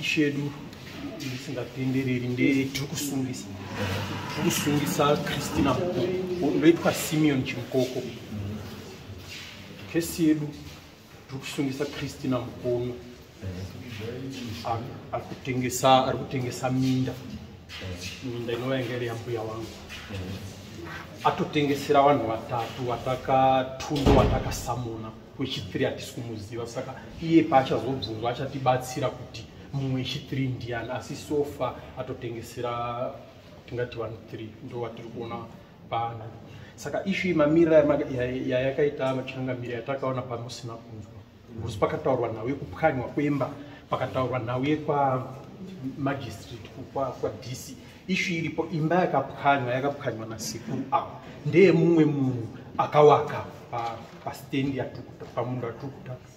ishedu isingatendereri ndetiri kusungisa tiri kusungisa christina mukoko ndoitwa simeon chimukoko kesi yedu tiri kusungisa christina mukono ari kutengesa ari kutengesa minda minda inova yanga iri yambuya wangu atotengesera vanhu vatatu vataka tundo vataka samona mm. wechithree hatisi kumuziva saka iye paachazobvunzwa achatibatsira kuti mumwe wechithree ndiyani asi sofa atotengesera tingati vanhu three ndo vatiri kuona pano saka ishu yemamira yayakaita machangamira yatakaona pamusina kunzwa bcause pakataurwa nhau yekupwanywa kwemba pakataurwa nhau yekwa magistrate kwadc ishu iripo imba yakapwanywa yakapwanywa nasekuru ava ndeye mumwe munhu akawaka pastendi yatukuta pamunhu atiri kutaka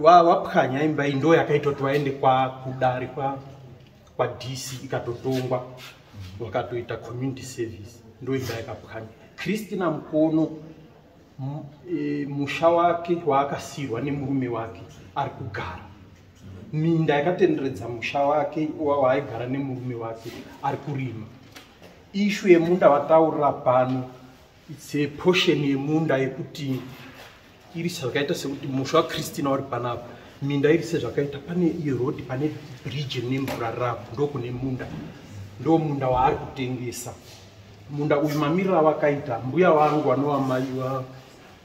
wapwanya imba iyi ndo yakaita kuti vaende kwakudare kwadc ikatotongwa wakatoita community service ndo imba yakapwanya kristina mukono e, musha wake waakasirwa nemurume wake ari kugara minda yakatenderedza musha wake waaigara nemurume wake ari kurima ishu yemunda vataurira pano its a portion yemunda yekuti iri zvakaita sekuti musha wakristina wari panapa minda iri sezvakaita pane irodi pane bridge rine mvura ravo ndokune munda ndo munda waari kutengesa munda uyu mamirira wakaita mbuya vangu vanova mai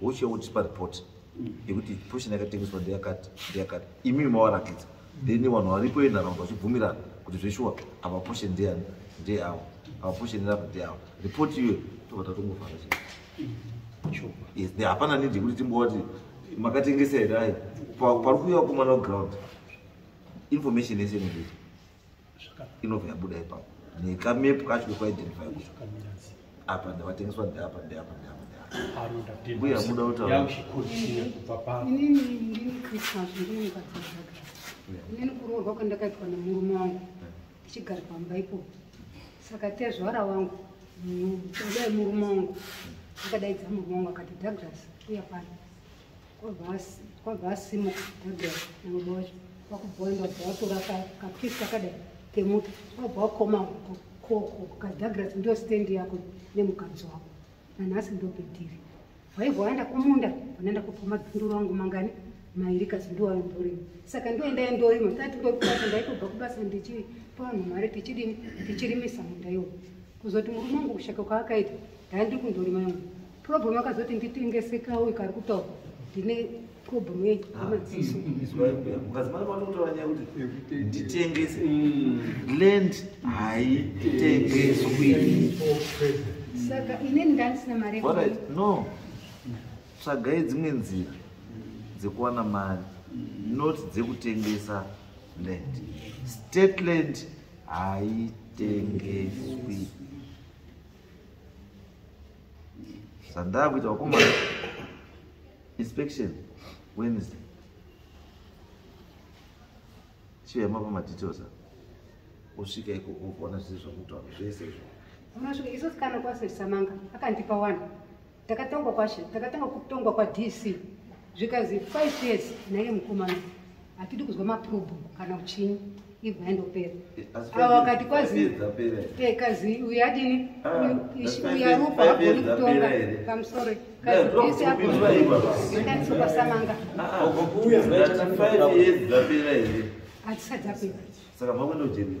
uche wotipa report yekuti portion yakatengeswa ndeyakati ndeyakati imimi mawarakidza then vanhu varipo venharaunda vachibvumirana kuti zveshuwa ava portion ndeyani ndeyawo ava portion rava ndeyawo report iyoyo tobva tatongofara chete hapana nidi yekuti timbovati makatengesa here ayi pari kuuya kumana ground information yese inodii inobva yabuda ipapo nekamepu kacho kekuidentify kucho apa ndavatengeswa ndeapa ndeapa ndeapa mbuya muda kutaurainini kuroorwa kwandakaitwa nemurume wangu tichigara pamba ipo saka tezvara wangu kudai murume wangu akadaidza murume wangu akati douglas uya pano kwabva asimuka adai nangobhoja kwakubhoenda kubva watora kapisi kakadai kemuti kwabva wakoma koko kadagras ndo stendi yako nemukadzi wako nanhasi ndopediri waibva waenda kumunda vanaenda kubva madzinduru angu mangani mairi kasi ndoayo ndorima saka ndoendai ndorima tati ndokubasa ndaitobva kubasa ndichipa vanhu mari tichirimisa munda iwo kuzoti murume wangu kushaka kwaakaita daa ndiri kundorima yangu problem akazoti nditengesekawo ikari kutaura ndine problem yemadziso nditengese land haitengeswi saka ine ndandisina mari no tsvagai dzimwe nzira dzekuwana mari not dzekutengesa land state land haitengeswi zvandaa kuita wakomana inspection wednesday chiyema pamadetails a usvika ikoko ukaona zvese zvakutaura zvese izvo unosvika isosikana kwasesamanga akandipa wani Takatongwa kwashe, takatanga kutongwa kwa DC zvikazi 5 years naye mukomana hatidi kuzwa maprobo kana uchini ibva yandopera ava wakati kwazi eh, kazi uyu adini ah, uyu arupa agoni kutonga pamusore kazi disi agoiaaisopasamanga hatisadzapera saka makundojenii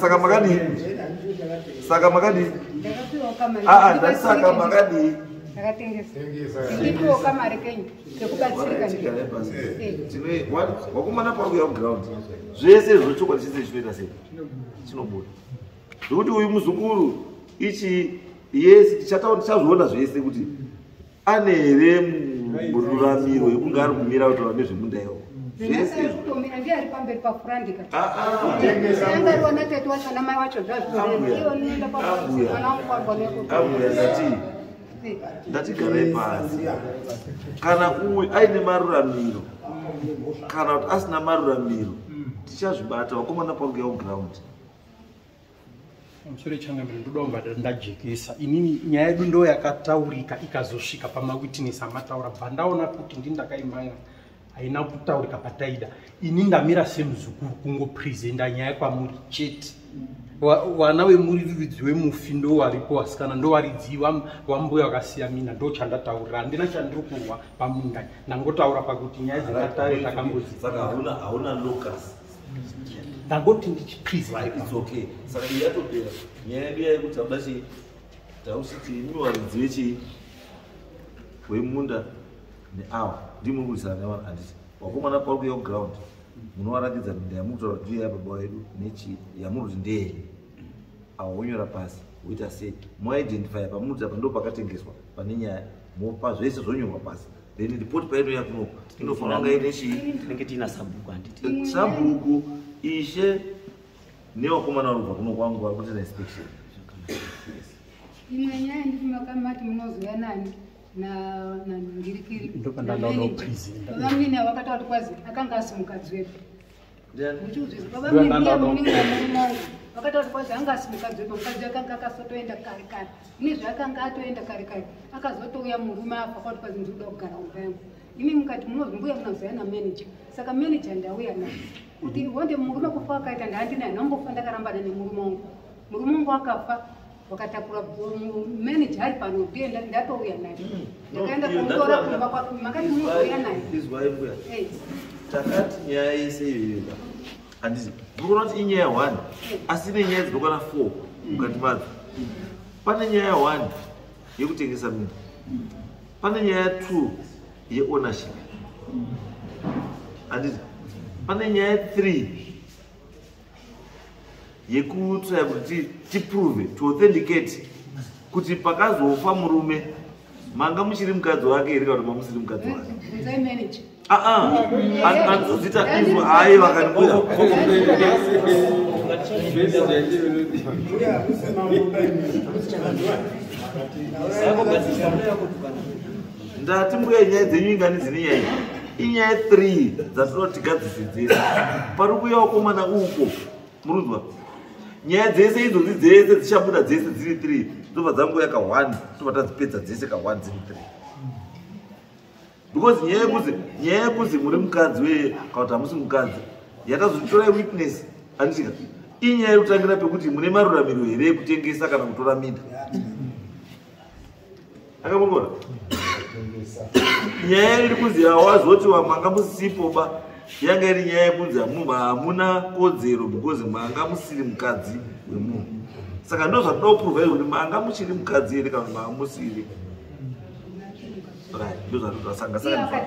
saka makadii saka makadii aa ndasaka makadii wakomana pauya kuground zvese zvochokwadi chese chinoita sei chinobuda zvokuti uyu muzukuru ichi yes tichataura tichazviona zvese kuti ane here mururamiro yekunge ari kumira kuti vane zvemunda iwo ndatigarei pasi kana uyu aine maruramiro kana kuti asina maruramiro tichazvibata vakomana paugeoground mushure changamire ndodawo ndajekesa inini nyaya yedu ndo yakataurika ikazosvika pamawitness amataura bva ndaona kuti ndi ndakaimaira haina kutaurika pataida ini ndamira semuzukuru kungopresenta nyaya kwamuri chete vana vemuriridzi wemufi ndo varipo vasikana ndo varidzi vambuya vakasiya mina ndo chandataurira handina chandiri kurwa pamunda ndangotaura pakuti nyaya dzakatare takamboziauna ndangoti ndichipriseokay saka iyi yatopera nyaya yedu yaye kuti tauda chii tausiti imiwaridzive chii wemunda neawa ndimuri kuisana nevanhu anditi wakomana pauri kuya kuground munovaratidza minda yamuri kutaura kuti iyo yababa wedu nechii yamuri kuti ndeyeni awa wonyora pasi woita sei moidentifya pamuri kuti apa ndo pakatengeswa pane nyaya mopa zvese zvonyorwa pasi then report paino yakuno inofanira kunge ine chii tinenge tiina sabhuku handiti sabhuku ishe nevakomana vanobva kuno kwangu vari kuita inspection imwe nyaya nditi makamati munozouya nani nandingirikiri ndopandandaona uprizivamwene vakataura kuti kwazi akanga asi mukadzi wepi vakataura kwazi anga asimukadzoba mukadzi akanga akasotoenda kare kare ine zvaakanga atoenda kare kare akazotouya murume apa kwati kwazi ndinoda kugara umba yangu imi mukati munonzi mbuya munazouya namanager saka manager ndauya na kuti wonde murume kufa akaita ndandina nombofa ndakarambana nemurume wangu murume wangu akafa wakatakura manager ari pano ndiye ndatouya naye mm. ndakaenda kumutora kumba kwako makati munouya naye takati nyaya yese iyoyoa handizi ndikuona kuti inyaya one asi ine nyaya dzinokwana four mukati madzo pane nyaya one yekutengesa minda pane nyaya two yeownership handizi pane nyaya three yekutsvaya kuti tiprove to authenticate kuti pakazofa murume manga muchiri mukadzi wake here kana kuti mamusiri mukadzi wake anozita ah, ah. izvo hayi vakandibuda ndati mbuya nyaya dzenyu ingani dzine nyaya iyi inyaya three dzatinoti gadzisidzisa pari kuuya wakomana uko murunzwa nyaya dzese idzodzi dzese dzichabuda dzese dziri three dzobva dzangoya ka one tobva tadzipedza dzese ka one dziri three because nyaya yekuzi nyaya yekuzi muri mukadzi weye kana kuti hamusi mukadzi yakazotora witness anditika inyaya yekutangira pekuti mune maruramiro here yekutengesa kana kutora minda akamukona nyaya iri kunzi awazoti wamanga musipo ba yanga iri nyaya yekunzi hamunhu hamuna kodzero because manga musiri mukadzi wemunhu saka ndo zvatoda kuprova iri kuti manga muchiri mukadzi ere kana kuti manga musiri ndo zvatoda sanga sanga